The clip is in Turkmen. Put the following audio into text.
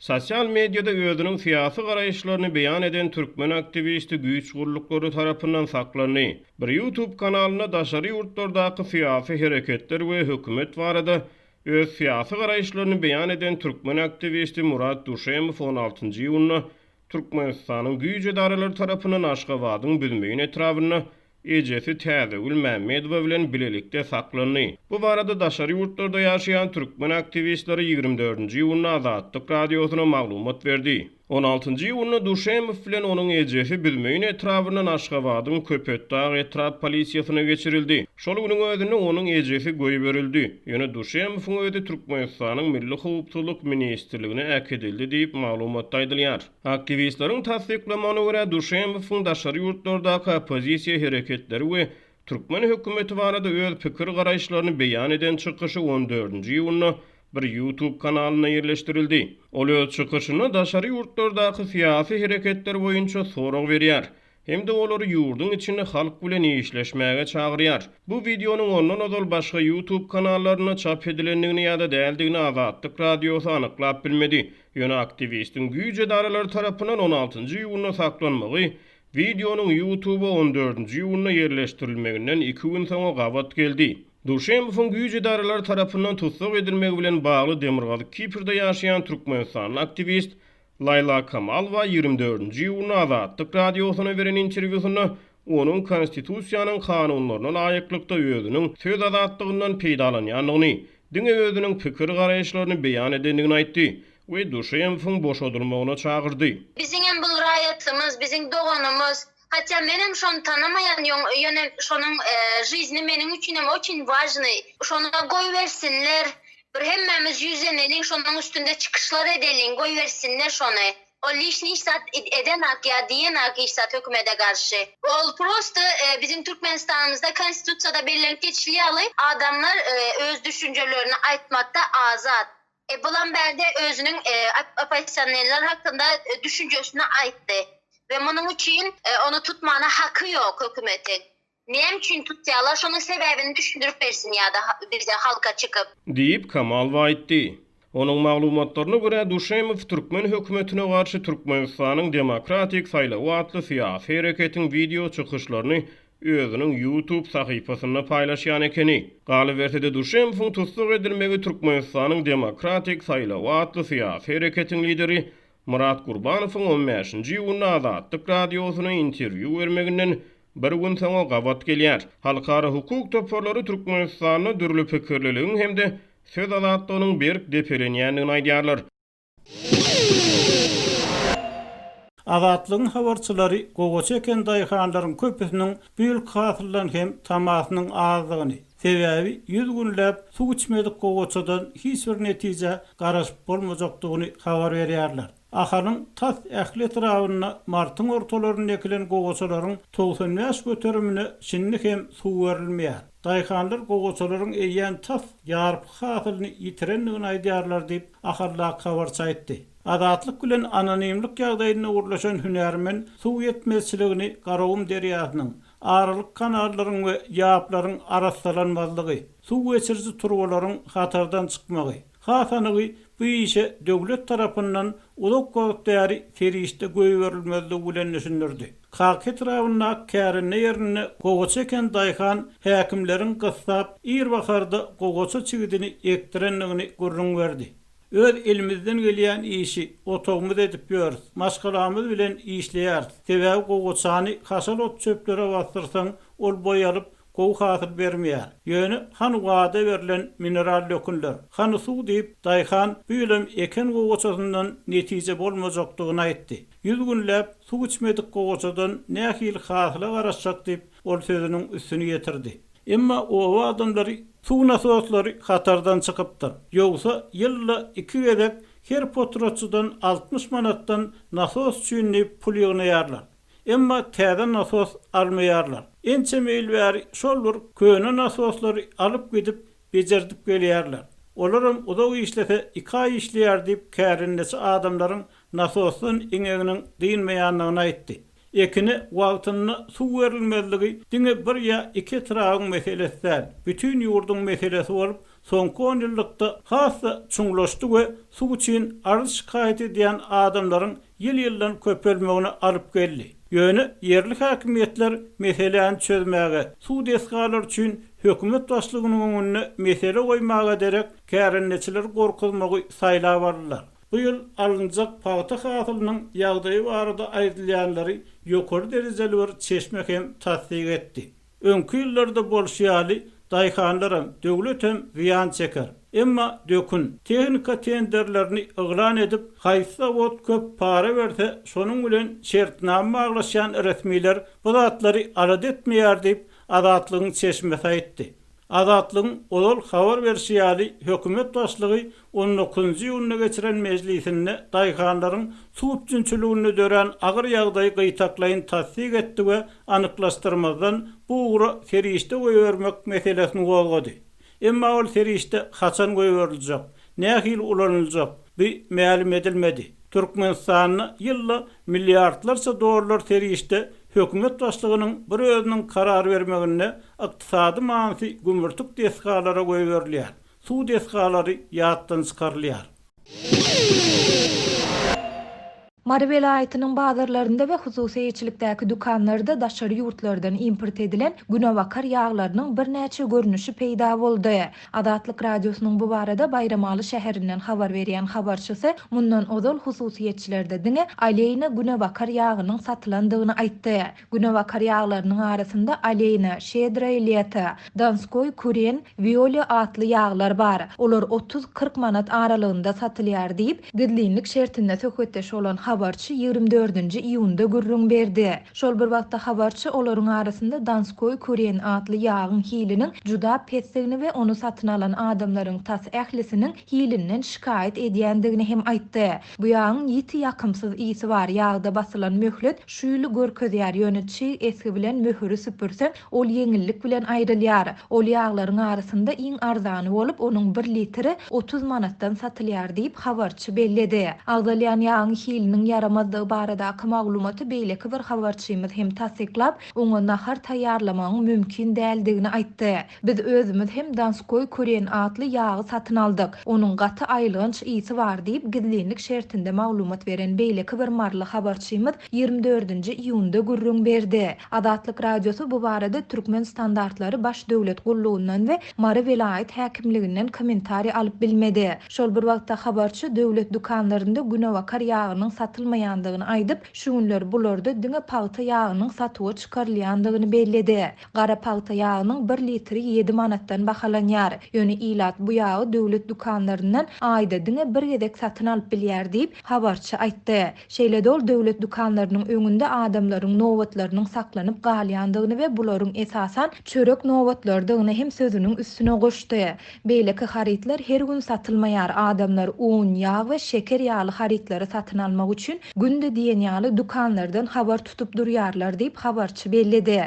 Sosial mediada özüniň syýasy garaýyşlaryny beýan eden türkmen aktiwisti güýç gulluklary tarapyndan saklandy. Bir YouTube kanalynda daşary ýurtlardaky syýasy hereketler we hökümet barada öz syýasy garaýyşlaryny beýan eden türkmen aktiwisti Murat Duşemow on altynjy iýunda Türkmenistanyň güýç edaralary tarapyndan Aşgabadyň Büzmeýin etrabynda ejesi Täzegül Mämmedowa bilen bilelikde saklandy. Bu barada daşary ýurtlarda ýaşaýan türkmen aktiwistleri ýigrimi dördünji iýunda Azatlyk Radiosyna maglumat berdi. On altynjy iýunda Duşemow bilen onuň ejesi Büzmeýin etrabyndan Aşgabadyň Köpetdag etrap polisiýasyna geçirildi. Şol günüň özünde onuň ejesi goýberildi. Ýöne Duşemowyň özi Türkmenistanyň Milli howpsuzlyk ministrligine äkidildi diýip, maglumatda aýdylýar. Aktiwistleriň tassyklamagyna görä, Duşemowyň daşary ýurtlardaky oppozisiýa hereketleri we türkmen hökümeti barada öz pikir-garaýyşlaryny beýan eden çykyşy on dördünji iýunda bir YouTube kanalynda ýerleşdirildi. Ol öz çykyşynda daşary ýurtlardaky syýasy hereketler boýunça sorag berýär. hem-de olary ýurduň içinde halk bilen işleşmäge çagyrýar. Bu wideonyň ondan ozal başga YouTube kanallarynda çap edilendigini ýa-da däldigini Azatlyk Radiosy anyklap bilmedi. Ýöne aktiwistiň güýç edaralary tarapyndan on altynjy iýunda saklanmagy wideonyň YouTube-a on dördünji iýunda ýerleşdirilmeginden iki gün soňa gabat geldi. Duşembowyň güýç edaralary tarapyndan tussag edilmegi bilen bagly demirgazyk Kiprde ýaşaýan türkmenistanly aktiwist Laýla Kamalowa ýigrimi dördünji iýunda Azatlyk Radiosyna beren interwýusynda onuň Konstitusiýanyň kanunlaryna laýyklykda özüniň söz azatlygyndan peýdalanýandygyny, diňe özüniň pikir-garaýyşlaryny beýan edendigini aýtdy we Duşemowyň boşadylmagyna çagyrdy. Biziňem bul raýatymyz, biziň doganymyz. Hatda menem şony tanamaýan ýöne şonuň žizini meniň üçinem oçin wažnyý. Şona goýbersinler. Bir hemmämiz ýüzleneliň şonuň üstünde çykyşlar edeliň goýbersinler şony. Ol lišniş zat edenak ýa diýenak hiç zat hökümede garşy. Ol prosta biziň Türkmenistanymyzda konstitusiýada bellenip geçilýär ýaly adamlar öz düşünjelerini aýtmakda azat. Bulam bärde özüniň oppozisionerler hakynda düşünjesini aýtdy we munuň üçin ony tutmana haky ýok hökümetiň. Näme üçin tutýarlar, şonuň sebäbini düşündirip bersin ýa-da bize, halka çykyp. Diýip, Kamalow aýtdy. Onuň maglumatlaryna görä, Duşemow türkmen hökümetine garşy Türkmenistanyň demokratik saýlawy atly syýasy hereketiň wideo çykyşlaryny özüniň YouTube sahypasynda paýlaşýan ekeni. Galyberse-de Duşenbowyň tussag edilmegi Türkmenistanyň demokratik saýlawy atly syýasy hereketiň lideri Myrat Gurbanowyň on bäşinji iýunda Azatlyk Radiosyna interwýu bermeginden bir gün soňa gabat gelýär. Halkara hukuk toparlary Türkmenistanda dürli pikirliligiň hem-de söz azatlygynyň berk depelenýändigini aýdýarlar. Azatlygyň habarçylary gowaça eken daýhanlaryň köpüsiniň bu ýylky hasyldan hem tamasynyň azdygyny, sebäbi ýüz günläp suw içmedik gowaçadan hiç bir netijä garaşyp bolmajakdygyny habar berýärler. Ahalyň tas ähli etrabynda martyň ortalarynda ekilen gowaçalaryň togsan bäş göterimine şindi hem suw berilmeýär. Daýhanlar gowusalaryň eýýäm tas ýarpy hasylyny ýitirendigini aýdýarlar diýip, Ahallag habarçy aýtdy. Azatlyk bilen anonimlik ýagdaýynda gürleşen hünärmen suw ýetmezçiligini Garagum derýasynyň, aralyk kanallaryň we ýaplaryň arassalanmazlygy, suw geçiriji turbalaryň hatardan çykmagy, Hasanygy bu işe döwlet tarapyndan uzak wagt bäri serişde goýberilmezligi bilen düşündirdi. Kaka etrabyndaky kärende ýerinde gowaça eken daýhan häkimleriň gyssap, ir baharda gowaça çigidini ekdirendigini gürrüň berdi. Öz elimizden gelýän işi otagymyz edip ýörüs, maşgalamyz bilen işleýäris. Sebäbi gowaçany haşal ot-çöplere basdyrsaň, ol boý alyp, gowy hasyl bermeýär. Ýöne hany wada berlen mineral dökünler, hany suw diýip, daýhan bu ýylam eken gowaçasyndan netije bolmajakdygyny aýtdy. Ýüz günläp suw içmedik gowaçadan nähili hasyla garaşjak diýip, ol sözüniň üstüni ýetirdi. Emma oba adamlary suw nasoslary hatardan çykypdyr. Ýogsa ýylda iki gezek her potratçydan altmyş manatdan nasos üçin diýip pul ýygnaýarlar. Emma täze nasos almaýarlar. Ençeme ýyl bäri şol bir köne nasoslary alyp gidip bejerdip gelýärler. Olaram uzak işlese iki aý işleýär diýip kärendeçi adamlaryň nasosdan iňeginiň dynmaýandygyny aýtdy. Ekine wagtynda suw berilmezligi diňe bir ýa iki etrabyň meselesi däl, bütin ýurduň meselesi bolup, soňky onýyllykda has-da çuňlaşdy we suw üçin arz-şikaýat edýän adamlaryň ýyl-ýyldan köpelmegine alyp geldi. Ýöne ýerli häkimiýetler meseläni çözmäge, suw desgalary üçin hökümet başlygynyň öňünde mesele goýmaga derek kärendeçileri gorkuzmagy saýlap aldylar. Bu ýyl alynjak pagta hasylynyň ýagdaýy barada aýdylýanlary ýokary derejeli bir çeşme hem tassyk etdi. Öňki ýyllarda bolşy ýaly daýhanlaram, döwletem zyýan çeker. Emma dökün, tehnika tenderlerini yglan edip, haýsy zawod köp para berse, şonuň bilen şertnama baglaşýan resmiler bu zatlary alada etmeýär diýip, Azatlygyň çeşmesi aýtdy. Azatlygyň ozal habar berşi ýaly, hökümet başlygy On dokuzynjy iýunda geçiren mejlisinde daýhanlaryň suw üpjünçiliginde dörän agyr ýagdaýy gytaklaýyn tassyk etdi we anyklaşdyrmazdan bu ugra serişde goýbermek meselesini gozgady. Emma ol serişde haçan goýberiljek, nähili ulanyljak, bi mälim edilmedi. Türkmenistanda ýylda milliardlarça dollar serişde hökümet başlygynyň bir özüniň karar bermeginde ykdysady manysy gümürtik desgalara goýberilýär. Suw desgalary ýatdan çykarylýar. Mary welaýatynyň bazarlarynda we hususy eýeçilikdäki dükanlarda daşary ýurtlardan import edilen günebakar ýaglarynyň birnäçe görnüşi peýda boldy. Azatlyk Radiosynyň bu barada Baýramaly şäherinden habar berýän habarçysy mundan ozal hususyýetçilerde diňe Aleýna günebakar ýagynyň satylandygyny aýtdy. Günebakar ýaglarynyň arasynda Aleýna, Şedrae Leto, Donskoý, Kuren, Wiolýa atly ýaglar bar. Olar otuz-kyrk manat aralygynda satylýar diýip, gizlinlik şertinde söhbetdeş bolan habarçy ýigrimi dördünji iýunda gürrüň berdi. Şol bir wagtda habarçy olaryň arasynda Donskoý, Kuren atly ýagyň hiliniň juda pesdigini we ony satyn alan adamlaryň tas ählisiniň hilinden şikaýat edýändigini hem aýtdy. Bu ýagyň ýiti ýakymsyz ysy bar. Ýagda basylan möhlet şu ýyly görkezýär, ýöne çig esgi bilen möhüri süpürseň, ol ýeňillik bilen aýrylýar. Ol ýaglaryň arasynda iň arzany bolup, onuň bir litri otuz manatdan satylýar diýip, habarçy belledi. Agzalýan ýagyň hiliniň ýaramazdygy baradaky maglumaty beýleki bir habarçymyz hem tassyklap, oňa nahar taýýarlamagyň mümkin däldigini aýtdy. Biz özümiz hem Donskoý Kuren atly ýagy satyn aldyk. Onuň gaty aýylganç ysy bar diýip, gizlinlik şertinde maglumat beren beýleki bir maryly habarçymyz ýigrimi dördünji iýunda gürrüň berdi. Azatlyk Radiosy bu barada Türkmen standartlary baş döwlet gullugyndan we Mary welaýat häkimliginden kommentariý alyp bilmedi. Şol bir wagtda habarçy döwlet dükanlarynda günebakar ýagynyň satylmaýandygyny aýdyp, şu günler bularda diňe pagta ýagynyň satuwa çykarylýandygyny belledi. Gara pagta ýagynyň bir litri ýedi manatdan bahalanýar. Ýöne ilat bu ýagy döwlet dükanlaryndan aýda diňe bir gezek satyn alyp bilýär diýip, habarçy aýtdy. Şeýle-de ol döwlet dükanlarynyň öňünde adamlaryň nobatlarynyň saklanyp galýandygyny we bularyň esasan çörek nobatlarydygyny hem sözüniň üstüne goşdy. Beýleki harytlar her gün satylmaýar, adamlar un, ýag we şeker ýaly harytlary satyn almak üçin günde diýen ýaly dükanlardan habar tutup durýarlar diýip, habarçy belledi.